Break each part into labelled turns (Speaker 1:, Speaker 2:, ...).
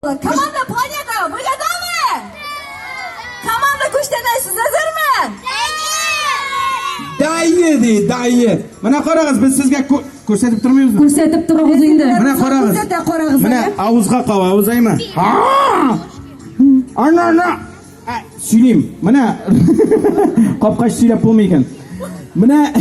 Speaker 1: Команда планета, вы готовы? Команда
Speaker 2: күчтәнә, сез әзерме? Дайне ди, дайне. Менә карагыз, без сезгә күрсәтеп тормыйбызмы? Күрсәтеп торыгыз инде. Менә
Speaker 3: карагыз. Күрсәтә карагыз.
Speaker 2: Менә
Speaker 3: авызга каба,
Speaker 2: авыз әйме? Ана, ана. Ә, сөйлим. Менә капкач сөйләп булмый икән. Менә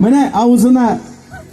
Speaker 2: Менә авызына